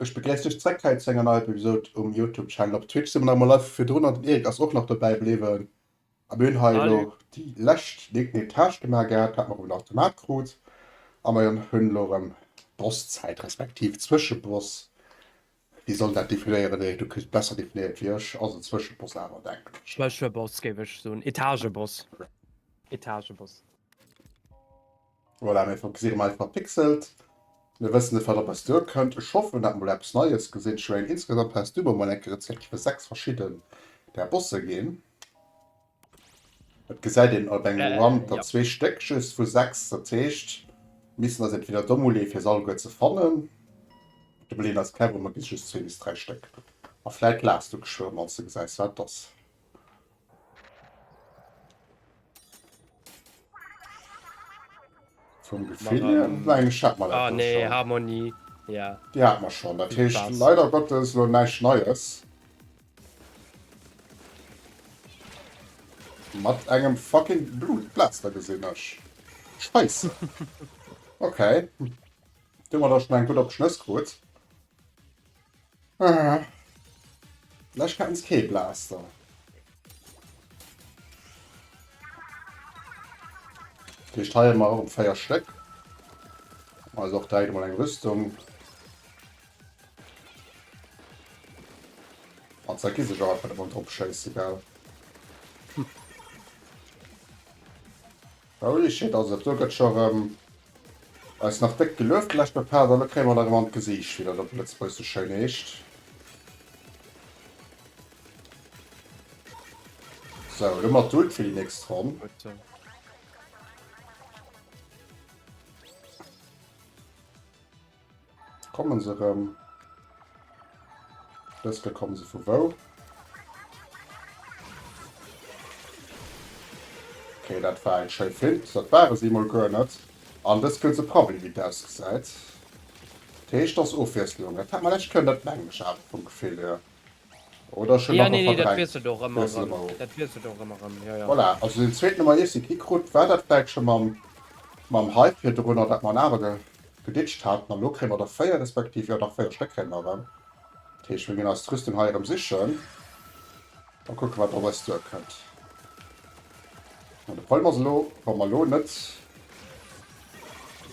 Ech begréiss dech zreck hei zu enger neier Episod um Youtube Channel. Op Twitch si mer nach emol live virdrun an den Eric ass och nach dobäi bliwwen. A mir hunn hei elo déi lescht Etage gemaach gehat, hat mer op en Automat krut a mer hunn elo erëm Bosszäit respektiv Zwëscheboss. Wie soll dat definéieren? Eric, du kriss et besser definéiert wéi ech. Ass en Zwëscheboss awer, denken ech. Zwëscheboss géif ech soen, Etageboss, Etageboss. Voilà, mir fokuséieren mei verpixelt. Mir wëssen net wat op eis duer kënnt. Ech hoffen dat mol eppes neies gesinn. Schwéin, insgesamt has du mer mol enke Rezepter fir 6 verschidden der Bosse ginn. Et gesäit een op engem Run der zwee Stéck just vu 6, dat heescht mir missten eis entweder domm uleeë fir se alleguer ze fannen, de Belén ass clever, mer ginn just zwee bis dräi Stéck a vläit laachs du geschwë mol, wann s de gesäis wat et ass. Vom Gefühl Mara, her, ähm, nein, ich hab mal Ah, nee, schon. Harmonie. Ja. Die hat man schon. Das heißt, Spaß. leider Gottes nur nichts Neues. Mit einem fucking Blutpflaster gesehen hast. Scheiße. Okay. Du hast schon einen gut auf Schnüss geholt. Ah. Lech kenns kee Blaster. Hier steier mar op 4 Stéck. Also och deit mal eng Rüstung. An ze gi sech einfach de Mond opschéisse gell. Holy shit, also do gëtt scho rem eis nach déck gelueft de leschte Part, an lo kréie mer der rem an d'Gesiicht, wéi dat op Lëtzebuerg sou schéin heescht. Sou, elo mat d'Ult fir déi nächst Ronn. Kommen se rëm? Dës Kéier kommen se vu wou? Okay, dat war eng schéi Fint. Dat ware si emol guer net. An dës Kéier ze Probli, wéi et ausgesäit. Dat heescht, et ass Ofwiesslung. Dat hat mer lescht Kéier net, mengen ech awer vum Gefill hier. Oder schon nach verdrängt? Nee, dat wiesselt och ëmmer erëm. Dat wiesselt och ëmmer erëm, jo, jo. Voilà, also den zweeten hu mer easy gekritt. War dat vläicht scho mam Hype virdrunner, dat mer en awer geditcht haten? An elo kréie mer der 4, respektiv, jo, dach 4 Stéck kréie mer erëm. Dat heescht, mir ginn eis d'Rüstung hei erëm sichen a kucke wat op eis duerkënnt. Mä de Problem ass elo, wa mer elo net,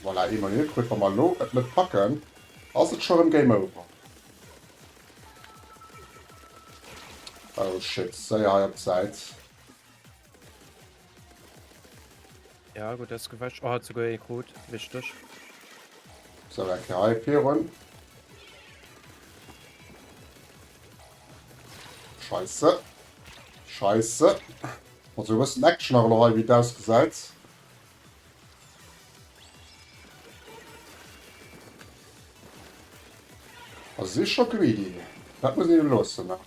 voilà, eemol hie krut, wa mer elo et net packen, ass et scho erëm Game Over. Oh shit, séier hei op d'Säit. Ja, gut, das gewäsch. Oh, hat sogar eh gut. Wichtig. So, weg hier hei führen. Scheiße. Scheiße. Also, wir müssen Action aber noch hei, wie das gesagt. A si scho greedy. Dat muss een him loossen nach.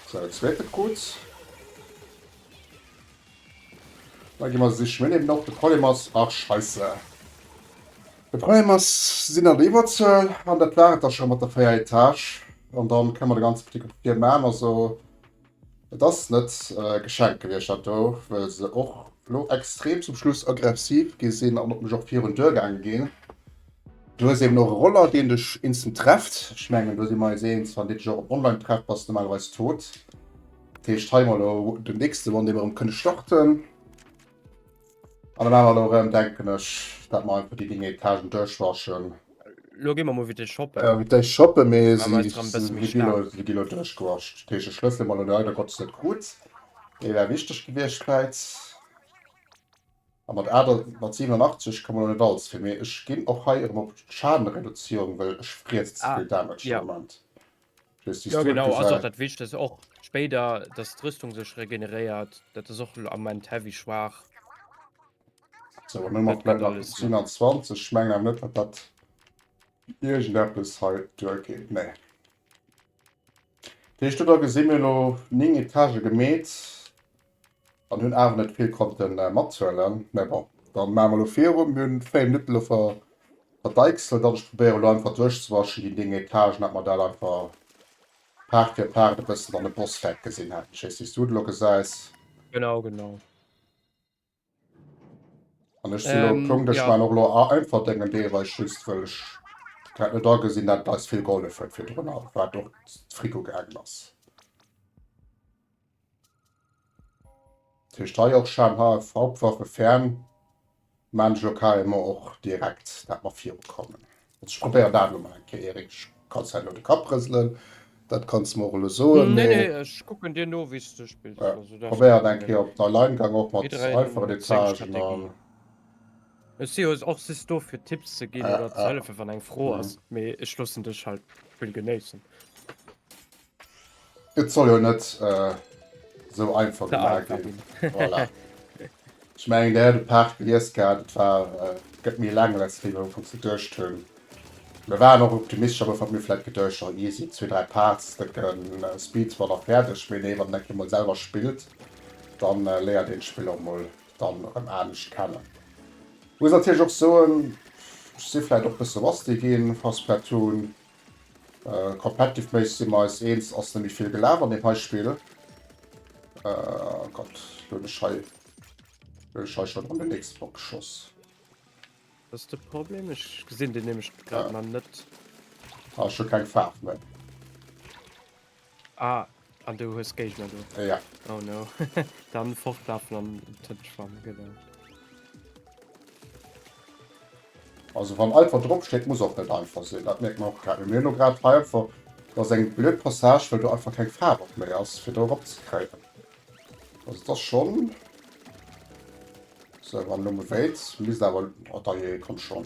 Sou, dat zweet gëtt gutt. Da gi mer sichen. Mir liewen op. De Problem ass, ach scheisse. De Problem ass, si sinn an der Iwwerzuel. An dat war et da scho mat der véier Etage. An da kënne mer de ganze Petit Comité maachen. Also. Et ass net geschenkt gewiescht dat do, wëll se och lo extrem zum Schluss aggressiv gi sinn an op mech och virun d'Duer gaange ginn. Du hues eben och e Roller deen dech instant trefft. Ech mengen do si mer eis eens, wann dee dech och am Online trefft bass de normalerweis tot. Dat heescht hei elo den nächste Won dee mer erëm kënne starten. An dann awer elo erëm denken ech, dat mer einfach déi Ding Etagen duerchwaschen. Lo gi mer mol vite shoppen. Äh, vite shoppen, mee si gi lo, si gi lo duerchgewascht. Dat heescht, ech loosse se mol elo leider Gottes net krut. Déi wär wichteg gewiescht vläit. A mat 8, mat 87 komme elo net alles fir, mee ech ginn och hei erëm op Schadenreduzierung, well ech friesse ze vill Damage am Moment. Ja genau ass och dat Wichtegst, och spéider, dass d'Rüstung sech regeneréiert, dat ass och am Moment heavy schwaach. So, an elo mat Blätter 27, ech mengen awer net, datt dat iergendeppes hei duergeet, nee. Dat heescht do da gesi mir elo 9 Etage gemeet. An hun awer net vill konnten matzuelen, mä bon dann maan mer lo virum. Mir hun 4 Minutten lo verdeichselt an ech probéieren lo einfach duerch ze waschen déi 9 Etagen, dat mer dat einfach Part fir Part e bëssen an dem Bosswerk gesin haten. Ech wees ni wéis du et lo gesäis. Genau, genau. An ech sinn elo Punkt, ech man och elo einfach denken Deel, well ech just well ech dat net agesinn, dat eis vill gehollef huet virdrunner, wat och d'Frico gaangen ass. Dat heescht hei och Scham HF, Hauptwaffe fern, man ech elo carrément och direkt, dat mer virukommen. Also probéier dat elo mol eng Kéier, Eric. Ech kann hei elo de Kapp rëselen, dat kanns de mer och elo soen, mee. Nee, nee, ech kucken dir no, wéi s de spills. Also dat ass kee Problem. Op der Line gang och mat einfachen Etagen an. Ech si jo och just do fir Tipps ze ginn oder ze hëllefen wann eng Fro ass, mee ech loossen dech halt d'Spill genéissen. Et soll jo net esou einfach gemaach ginn. Voilà. Ech mengen, Dir hätt e Paart gelies gehat, et war, et gëtt méi laang, wéi mir am Fong geduecht hunn. Mir waren och optimistesch am Ufank, mir hu vläicht geduecht, oh easy, zwee, dräi Parts, da gëtt Speedrun och fäerdeg. Mee nee, wann een dat kee mol selwer spillt, da léiert een d'Spill och mol dann erëm anescht kennen. Muss natierlech och soen, ech si vläicht och e bësse rusty ginn, wa Splatoon Competitive méiss si mer eis eenz, ass nemmi vill gelaf an dem hei Spill. Gott hun ech hei hun ech hei schon an den nächste Bock geschoss. Dat ass de Problem, ech gesinn deen nämlech grad mal net. Ah ech hun keng Faarf méi. Ah, an du hues Géigner do? Äh, ja. Oh no. Dann fortlafen an tënt schwammen, genau. Also wann einfach drop steet, muss och net einfach sinn. Dat mierkt mer och grad. Mee mir hunn elo grad hei einfach, dat ass eng blöd Passage, well do einfach keng Faarf och méi ass, fir do erop ze kréien. Also et ass schonn. So, wann lo mewéit, misst awer. Oh, dajee, komm schonn.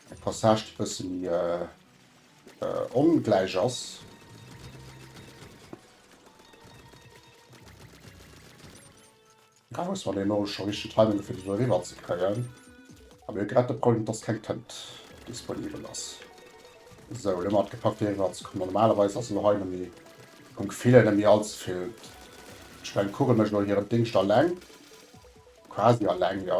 Eng Passage déi bësse méi ongläich ass. Ech muss mer den Orosche richteg timen fir deen do eriwwer ze kréien. A mir hu grad de Problem dass keng Tënt disponibel ass. Sou, elo mat gepackt fir eriwwer ze kommen. Normalerweis ass elo hei nëmme vum Gefill hier nëmme allze vill. Ech mengen d'Kugel mécht elo hiren Dingscht alleng, quasi alleng jo.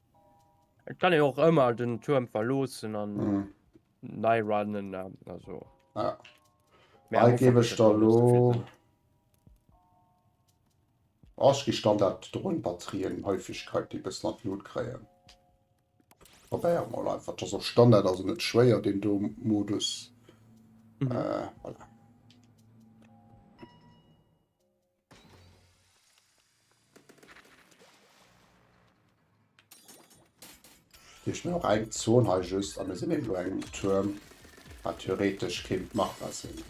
Et kann ee och ëmmer den Tuerm verloossen an Mhm. nei runnen an also. Ja. Mä am Hei Ufank gebe ass ech dat da dann lo. just fir den Oh, ech gi Standard-Drohnen-Batterien, Häufegkeit, déi bëssen an d'Lut kréien. Probéiere mol einfach. Just op Standard ass en net schwéier, deen do Modus. Mhm. Äh, voilà. Hier ist mir noch eng Zone hei just, aber wir sind irgendwo ein Turm, was theoretisch kind machbar sind.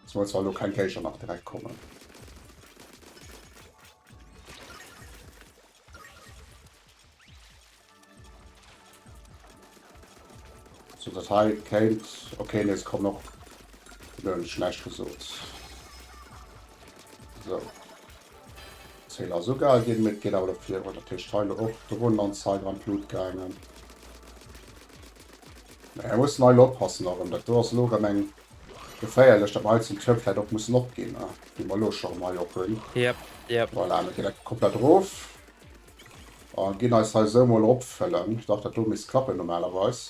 Es muss zwar noch kein Geischer nach direkt kommen. So dat hei kéint okay nees kommen op den schlecht gesot. So. Zéil ass uga ginn mit geet awer fir oder Tisch Teile och drun an Zeit an Blut gaangen. Er muss nei oppassen erëm dat do ass lo rem eng geféierlech dat mei zum Tür fährt och muss opginn. Wie mal lo schon mei op hunn. Yep, yep. Voilà, komplett rof. A ginn eis hei esou mol opfëllen. Dach, dat do misst klappen normalerweis.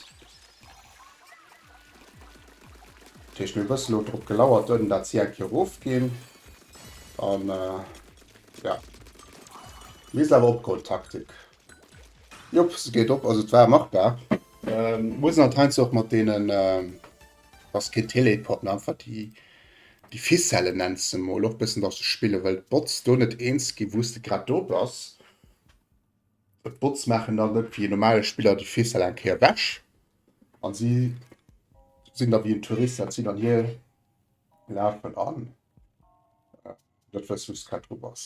Dat heescht, mir bëssen elo drop gelauert ënnen, dat si eng Kéier erofginn. An ja, misst awer opgoen, d'Taktik. Jop, se geet op. Also et war machbar. Muss en anteint sou och mat deenen. Ass keen Teleport, mä einfach déi déi Ficelle nennt se mol och bëssen datt se spillen, well d'Bots do net eens ginn wou s de grad do bass. D'Bots maachen dann net wéi e normale Spiller déi Ficelle eng Kéier ewech an si sinn da wéi en Tourist dat sinn an hie lafen an net wëssen wou s grad dru bass.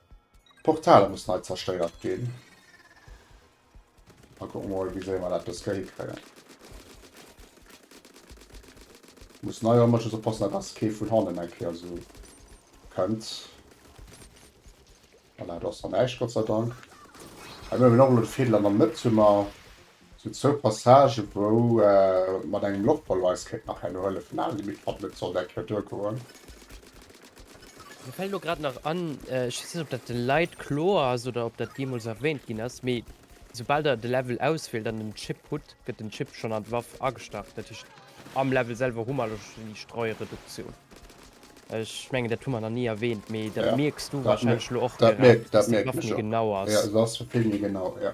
D'Portaler muss nei zerstéiert ginn. Mal kucken mol wéi séier mer dat dëske hikréien. Muss nei erëm mëches oppassen dat dass kee vun hannen eng Kéier esou kënnt. Voilà do ass dann näischt Gott sei Dank. Hei hunn mer och elo de Fädel an der Mëtt hu mer Sou zwou Passagen wou mat engem Loftballon eis kéint nach herno hëllefen awer déi Midd Cup net sollt eng Kéier duer goen. Mir fällt elo grad nach an, ech weess net ob dat den Leit kloer ass oder ob dat jeemools erwähnt ginn ass, mee soubal der de Level auswielt an den Chip hutt, gëtt den Chip schonn an d'Waff agestach. Dat heescht am Level selwer hu mer elo schonn déi Streureduktioun. Ech mengen dat hu mer nach ni erwähnt, mee dat mierks du wahrscheinlech elo och direkt, dass d'Waff méi genau ass. Jo, se ass vill méi genau, jo.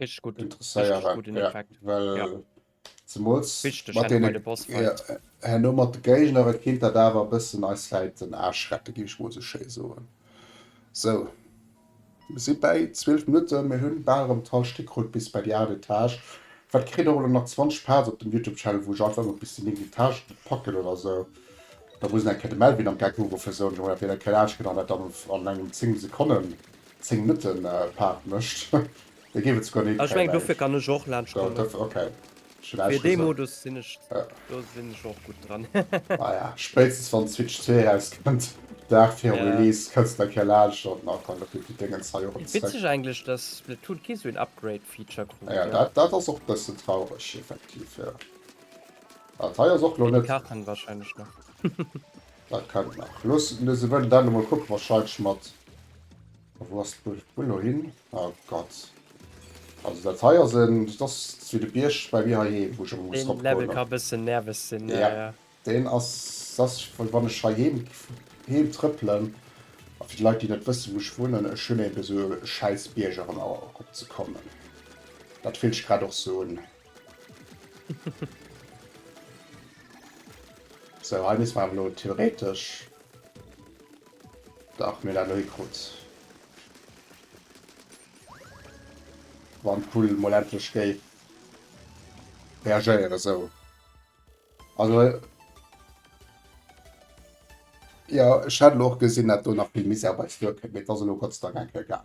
Richtig gut. Interesséier Richtig guten ja. Effekt. Well ja. zemools Richtig, mat den, ja, herno mat de Géigner, et kéint dat awer bëssen eis läit den Aarsch rette gi ech mol sou schéi soen. So mir si bäi 12 Minutte, mir hunn bal erëm d'Hallschtéck krut bis bäi déi 8 Etage. Wat kritt och elo nach 20 Parts op dem Youtube Channel, wou ech einfach ëmmer bis déi 9 Etage packen oder sou. Da muss en eng Kéier de Melvin am Gag uruffen, soen, Jongen, dat wier da keng Aarschkënner, dat dann an engem 10 Sekonnen 10 Minutten Paart mecht da géif et souguer nee kréien mengen ech. Do dofir ok ech hunn äischt gesot naja spéitstens wann d'Switch zwee erauskënnt Dag virum Release kënnst nach eng Kéier laanschen an da kommen déi Dingens hei erop zeréck. Naja dat dat ass och bëssen traureg effektiv jo. Dat hei ass och lo net. Dat kennt nach. Looss mir se wëllen dann emol kucken. Wa scheitsch mat. Wou ass d'Bull lo hin? Oh Gott. Also dat hei ass en. Dat ass wéi de Bierg bei mir heiheem, wou ech emol muss eropgoen. Deen Level ka e bëssen nerveg sinn, ja, ja. Deen ass. Dat ass wéi wann ech heiheem heem trëppelen. A fir déi Leit, déi net wëssen, wou ech wunnen, ech hunn eben esou e schäiss Bierg erëm eropzekommen. Dat fillt sech grad och esou un. So, hei misst mer awer elo theoretesch dach mir dat elo hikrut. Wann d'Kugel mol endlech géif reagéieren esou. Also jo, ech hat elo och gesinn, dat do nach vill Misär bei d'Flur kënnt, mee et ass elo Gott sei Dank enk egal.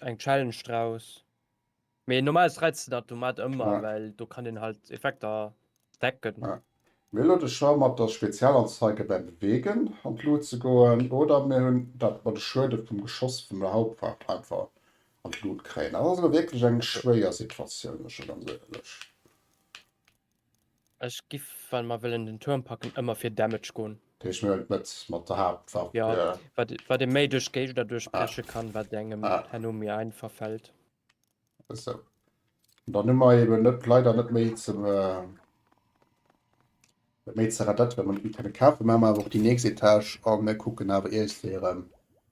Eng Challenge draus. Mee normal reizt dat du mat ëmmer ja. Well do kann den halt Effekter decken. Ja. Mir lo de Choix mat der Spezialanzeige beim Beweegen an d'Lut ze goen oder mir hunn dat mer de Schuede vum Geschoss vun der Hauptwaff einfach an d'Lut kréien. Dat ass elo wierklech eng schwéier Situatioun, muss ech ganz éierlech. Ech giff wann mer wëllen den Turm packen ëmmer fir Damage goen. Deech mir et net mat der Haaptwaff. Jo, wat ee méi duerch Géigner duerch breche kann, wat engem herno méi einfach fält. Esou. Dann hu mer eben net leider net méi ze net méi ze redetten, well mer net méi kënne kafen. Mä mer awer och déi nächst Etage a mir kucken awer iergendwéi erëm.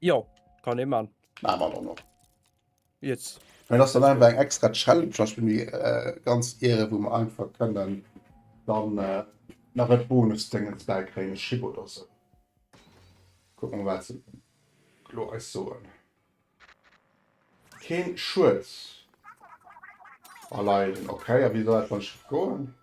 Jo, kann ee man. Ma mat an op. Jetzt. Mä lass dann einfach eng extra Challenge lass mir äh, ganz Ehre, wou mer einfach kënnen dann äh, nach et Bonusdéngens bäikréien, Chip oder sou. Kucken, wat se elo eis soen. Keen Schued erleiden. Ok, a wéi soll dat dann schief goen?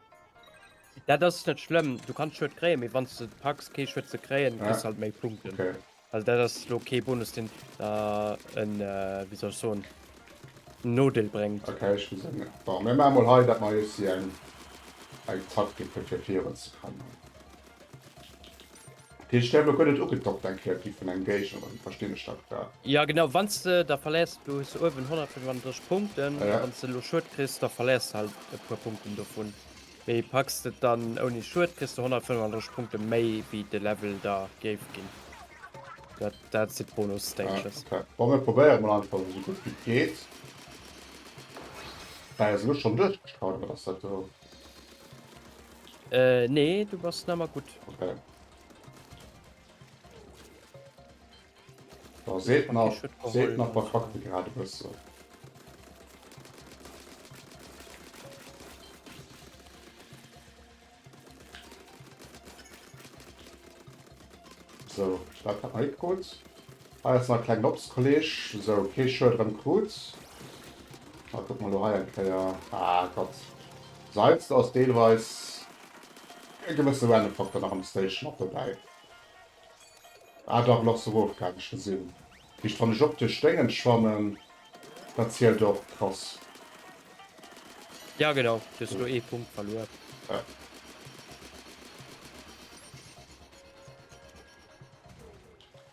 Dat ass net schlëmm, du kanns Schued kréien, mee wann s de packs kee Schued ze kréien, kriss halt méi Punkten. Okay. Also dat ass lo kee Bonus den der en wéi soll ech soen en Nodeel bréngt. Okay, ech muss eng. Bon, mir maache mol hei, dat mer eis hei eng Taktik fir fir virun ze kommen. Dee Stär blo gouf net ugedockt, eng Kreativ vun engem Geich oder wéi verstinn ech dat grad? Jo genau, wanns de der verléiers, du hues uewen 135 Punkten, a wanns de elo Schued kriss, da verléiers de halt e puer Punkten dovun, mee packs de et dann ouni Schued, kriss de 135 Punkte méi wéi de Level der géif ginn. Dat si d'Bonus Stages. Ah ok, bon mir probéiere mol einfach esou gutt wéi et geet. Mä se elo schonn duerchgestraut oder wat ass dat do? Äh, nee, du bass nammer gut. Okay. Da seet nach, seet nach der Fakte grad bësse. So, dat hat net gut. Hei ass nach e klengen Obstkolleg, sou kee Schued erëm krut. A kuck mol do hei eng Kéier, ah Gott, seit's do ass deelweis e gewësse random Faktor nach an der Station mat dobäi. Ah dach, Loss of Wolf Gang ech gesinn, just wann ech och duerch Déngens schwammen, dat zielt och, krass. Jo genau, du hues elo ee Punkt verluer. Ja.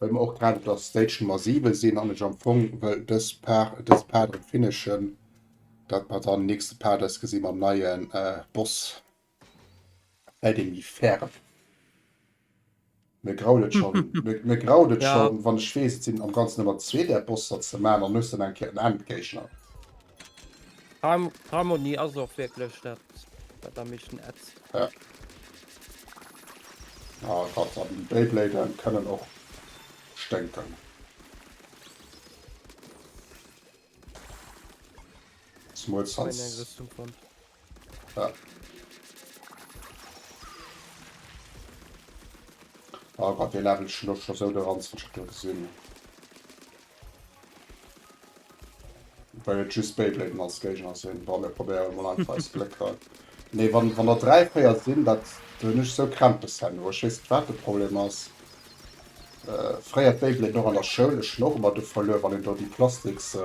Well mer och grad op der Stage Nummer 7 sinn an ech am Fong wëll dës Part, dëse Part erëm finishen, datt mer dann nächste Part eis gesi mam neie Boss, bäi deem méi ferme. Mir graut et schonn, mir graut et schonn, wann ech weess, et sinn am Ganzen ëmmer zwee där Bosser ze man an ech sinn eng Kéier en Endgéigner. Harmonie ass och wierklech dat wat am meeschten ätzt. Ja. Ah, grad an Beyblade kënnen och sténken. Zumols Wann een eppes zum Fond. Ja. Oh Gott, den Level ist schon, schon so der Ranz, wie ich da gesehen Weil jetzt just Beyblade als Gegner sind. Boah, wir probieren mal einfach als Blöcke. Nee, wenn, wenn da drei, vier sind, das bin ich so Krämpes haben. Ich weiß nicht, was der Problem ist. Äh, früher Beyblade noch an der Schule, ich noch immer du verloren, wenn ich da die Plastiks. Äh,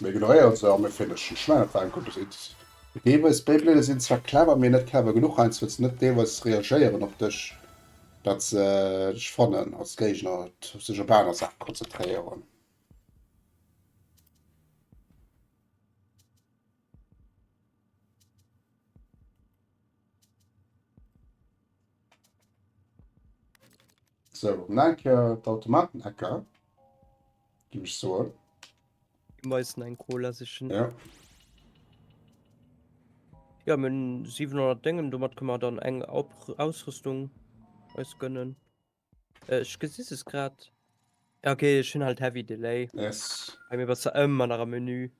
Mir ignoréiere se a mir vermëschen. Ech mengen dat war eng gutt Ridd. Deelweis Beyblade sinn zwar clever, mee net clever genuch, heiansdo wëlls de net deelweis reagéieren op dech, dat se dech fannen als Géigner, sech op aner Saache konzentréieren. So, nach eng Kéier d'Automaten-Ecker. Ginn ech soen. Ginn mer eis eng Cola sichen. Ja. Ja, mir hunn 700 Déngen, domat kënnen mer dann eng Ausrüstung eis gönnen. Ech gesi se grad. Ja, okay, ech hunn halt heavy Delay. Yes. Bei mir bass du ëmmer nach am Menü.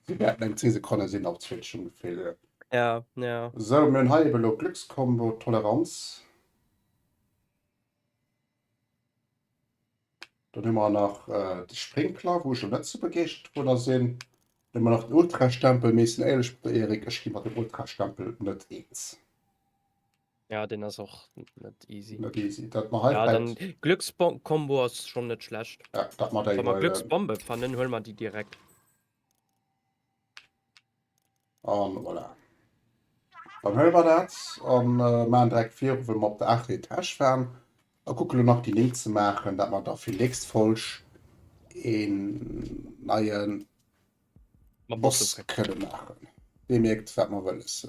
Déi wäerten eng 10 Sekonne sinn, op Twitch ongeféier. Ja, ja. Sou, mir hunn hei ebe lo Glückscombo, Toleranz. Dann hu mer nach de Sprinkler, wou ech lo net esou begeeschtert driwwer sinn. Dann hu mer nach den Ultrastempel, mee sinn éierlech mat der Erik, ech gi mat dem Ultrastempel net eens. Ja, den ass och net easy. Net easy. Dat mer hei ja, dann Glückskombo ass schon net schlecht. Ja, dat mer Wa mer Glücksbombe ähm, fannen, huel mer die direkt. An voilà. Dann huel mer dat an äh, man direkt vir, wenn mer op der 8. Etage fahren. A kuckele nach die Link ze machen, dat mer da fir nächst Folg en neien Boss kënne machen. Dir merkt, wat mer wëlles.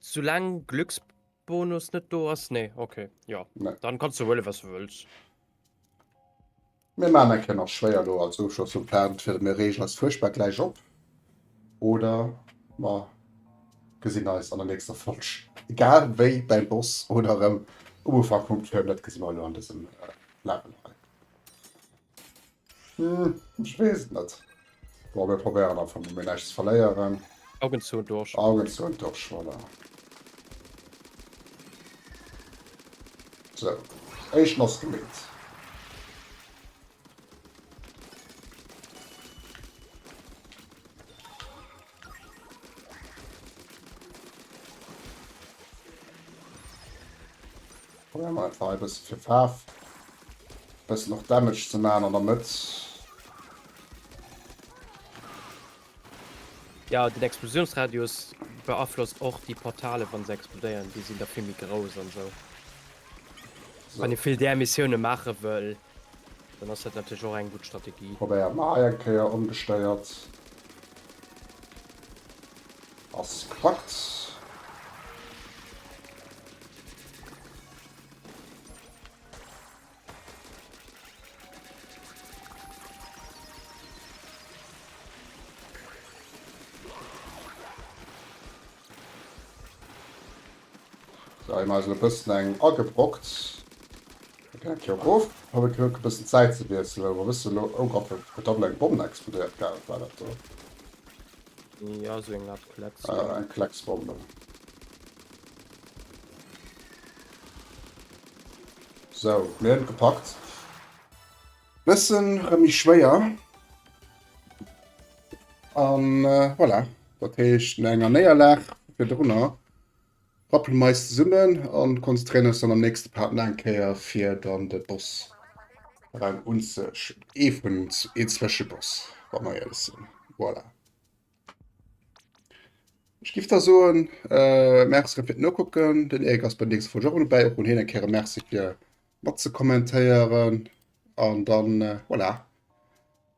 Soulaang Glücksbonus net do ass, nee, ok, jo, dann kanns du huelen was du wëlls. Mir maan eng Kéier nach schwéier elo als Ofschloss vum Part, fir mir reegen eis fuerchtbar gläich op oder mer gesinn eis an der nächster Folg. Egal wéi däi Boss oder erëm um Ufank vum Turn, dat gesi mer elo an dësem Level hei. Hm, ech weess et net. Bon, mir probéieren einfach mol, mir näischt ze verléieren. Augen zou und durch. Augen zou und durch, voilà. So, éischten ass gemeet. Probéiere mer et hei e bësse fir Faarf, e bëssen och Damage ze maachen an der Mëtt. Jo, den Explosiounsradius beaflosst och déi Portalen, wann se explodéieren. Déi sinn da vill méi grouss an esou. Wann ee vill där Missioune maache wëll, Dann ass dat natierlech och eng gutt Strategie. Probéiert nach eng Kéier ongestéiert. Ass klackt. Hei hun mer eis e bëssen eng agebrockt. Et geet d'Joer erof, hu mir d'Gléck e bëssen d'Säit ze wiesselen, wa wësse elo ou Gott, huet da vläit eng Bomm explodéiert, gaal wat war dat do? Jo sou eng Art Klecks. Ah eng Klecks Bomm dann. Sou mir hunn et gepackt. Bëssen rem méi schwéier an voilà, dat heescht no enger Néierlag virdrunner Rappelen mer eis zesummen an konzentréieren eis dann am nächsten Part nach eng Kéier fir dann de Boss rem unzeschauen. Ee vun ee Zwëscheboss wa mer éierlech sinn. Voilà. Ech giff da soen Merci rem fir d'Nokucken. Den Eric ass bei der nächster Folge och rem dobäi. Och un hien eng Kéier e Merci fir mat ze kommentéieren an dann voilà.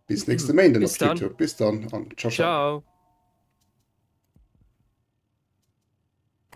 Bis nächste Méinden op YouTube. Bis dann an ciao ciao. ciao.